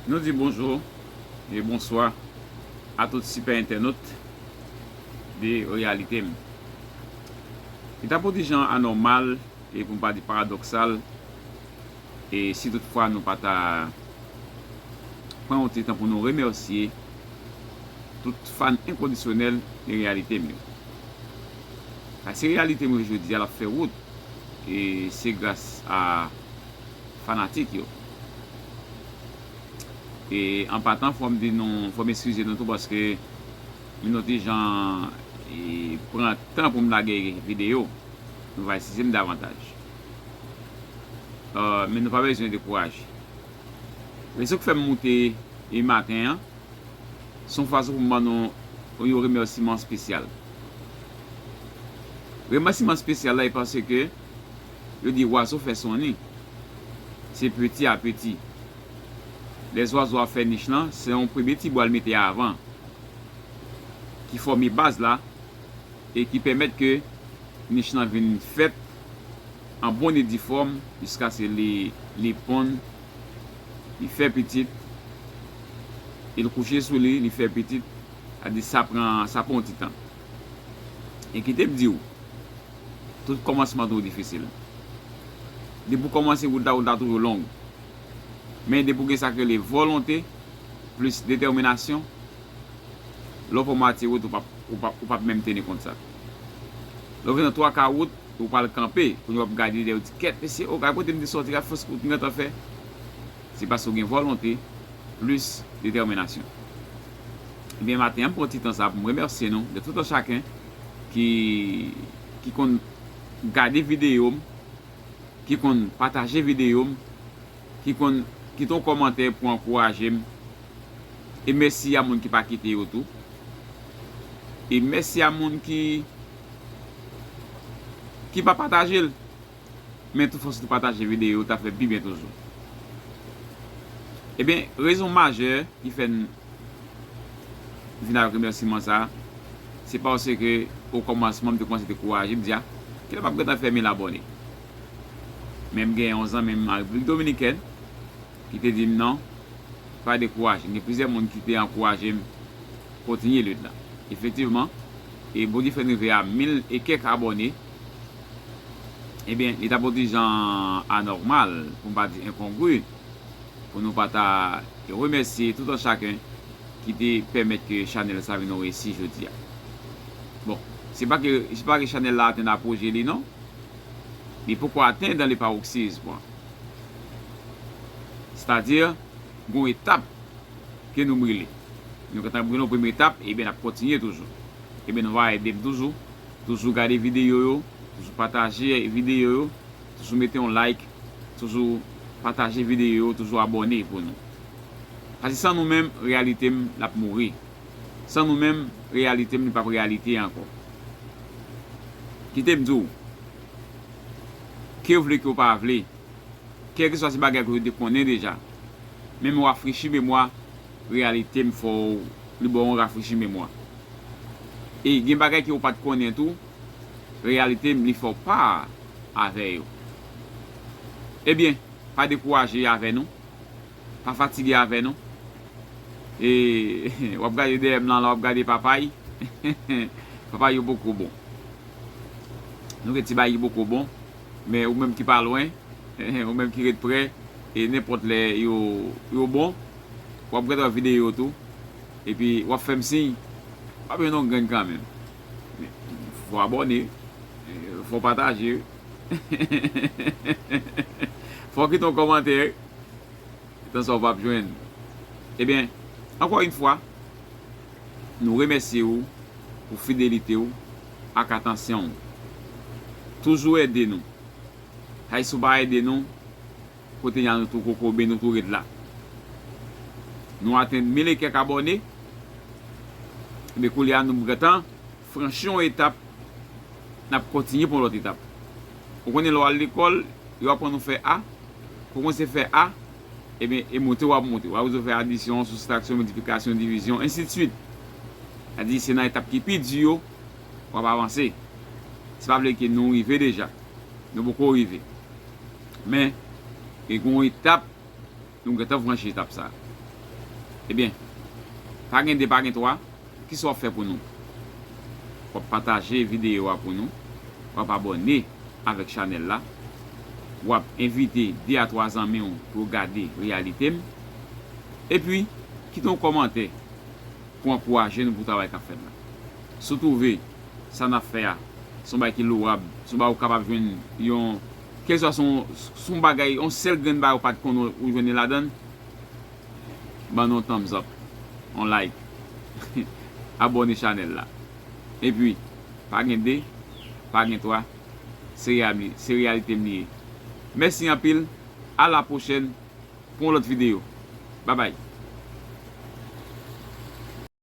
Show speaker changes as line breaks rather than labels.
Nou di bonjou e bonswa a tout sipè entènot de Reyalite M. Li ta pou di jan anòmal e pou m pa di paradoksal e si tout fwa nou pa ta pran yon ti tan pou nou remèsye tout fan enkondisyonèl de Reyalite M yo. Sa se Reyalite M yo jodi a l ap fè wout e se gras a fanatik yo. E an patan fò m di nou, fò m eskize nou tou paske m nou ti jan pran tan pou m lage videyo. Nou va eskize m davantaj. Men nou pa bezwen dekouraje. Rezon k fè m moute e maten an, se yon fason pou m ban nou yon remèsiman spesyal. Remèsiman spesyal la e paske Yo di wazo fè son ni se peti a peti. Lè zwazo ap fè nich lan se yon premye ti bwa l mete avan ki fòme baz la e ki pèmèt ke nich lan vin fèt an bon e difòm jiskase li ponn, li fè pitit e l kouche sou li, li fè pitit. Sa di sa pran, sa pran yon ti tan. E kite m di w, tout kòmansman toujou difisil. Depi w kòmanse wout la, wout la toujou long. Men depi w gen sa k rele volonte plis detèminasyon, lè w fè mwatye wout, ou pap menm teni kont sa. Lè w fè nan twa ka wout, ou pral kanpe, kounye a w ap gade dèyè w di kèt mesye, o gade kote m te sòti, gade fòs wout m gentan fè. Se paske w gen volonte plis detèminasyon. Ebyen maten an m pran ti tan sa pou m remèsye nou de tout an chaken ki ki konn gade videyo m, ki konn pataje videyo m, ki konn kite yon kòmantè pou ankouraje m. E mèsi a moun ki pa kite yo tou. E mèsi a moun ki ki pa pataje l. men tou fò si tou pataje video ta fè pi byen toujou ebyen rezon majè ki fè n vin avèk remèsiman sa se paske o kòmansman m te kòmanse dekouraje m di a kilè map gentan fè 1000 abòne men m gen yon zanmi m an repiblik dominikèn ki te di m non pa dekouraje gen plizyè moun ki te ankouraje m kontinye lit la efektivman e bondye fè n rive a 1000 e kèk abòne. Ebyen, li t ap on ti jan anòmal, pou m pa di enkongri, pou nou pa ta remèsye tout an chaken ki te pèmèt ke chanèl sa vin on resi jodi a. Bon, se pa ke, se pa ke chanèl la atenn apoje li non. Li poko atenn dan le paroxysme an. Sètadi, gon etap ke nou brile. Nou gentan brile on premye etap, ebyen n ap kontinye toujou. Ebyen nou va ede m toujou. Toujou gade videyo yo, toujou pataje videyo yo, toujou mete yon like, toujou pataje videyo yo, toujou abòne pou nou. Pase san nou menm reyalite m lap mouri. San nou menm reyalite m li pap reyalite ankò. Kite m di w, ke w vle ke w pa vle, kèlkeswa se bagay ke w te konnen deja, men m rafrechi memwa Reyalite m fè w li ba w yon rafrechi memwa. E gen bagay ke w pat konnen tou, reyalite m li fè w pa avè yo. Ebyen, pa dekouraje avè nou, pa fatige avè nou. E w ap gade dèyè m lan la w ap gade papay, papay yo poko bon. Nou gen ti bagay ki poko bon, men ou menm ki pa lwen, ou menm ki ret prè, e nenpòt lè yo bon. wap gad yon video tou epi wap fèm siy pa bezwen yon grenn kanmenm fò abòne fò pataje fò kite yon kòmantè etan sa ou pap jwenn ebyen ankò yn fwa nou remèsye ou pou fidelite ou ak atansyon ou toujou ede nou hay si ou pa ede nou. Kote yan nou tou kokobe nou tou ret la nou atenn mil e kèk abòne ebyen koulye a nou prantan franchi yon etap nap kontinye pran yon lòt etap ou konnen lè w al lekòl yo aprann ou fè a ou konnen se fè a ebyen e moute wap moute wap rezoud fè adisyon soustraksyon miltiplikasyon divizyon ensidswit sa di se nan etap ki pi di yo wap avanse se pa vle ke nou rive deja nou poko rive. Men, gen yon etap, nou gentan franchi etap sa. Ebyen, pa gen 2 pa gen 3, kisa w ap fè pou nou? W ap pataje videyo a pou nou, w ap abòne avèk chanèl la, w ap envite 2 a 3 zanmi w pou yo gade reyalite m, epi kite yon kòmantè pou ankouraje nou pou travay k ap fèt la. Si w twouve sa n ap fè a se yon bagay ki lowab, se yon bagay ou kapab jwenn yon, kèlkeswa se yon bagay, yon sèl grenn bagay ou pa t konnen ou jwenn li ladan l, ban nou yon thumbs up, yon like, abòne chanèl la. Epi, pa gen 2, pa gen 3, se reyalite m li ye. Mèsi anpil, a la pwochèn! Pou yon lòt video. Babay.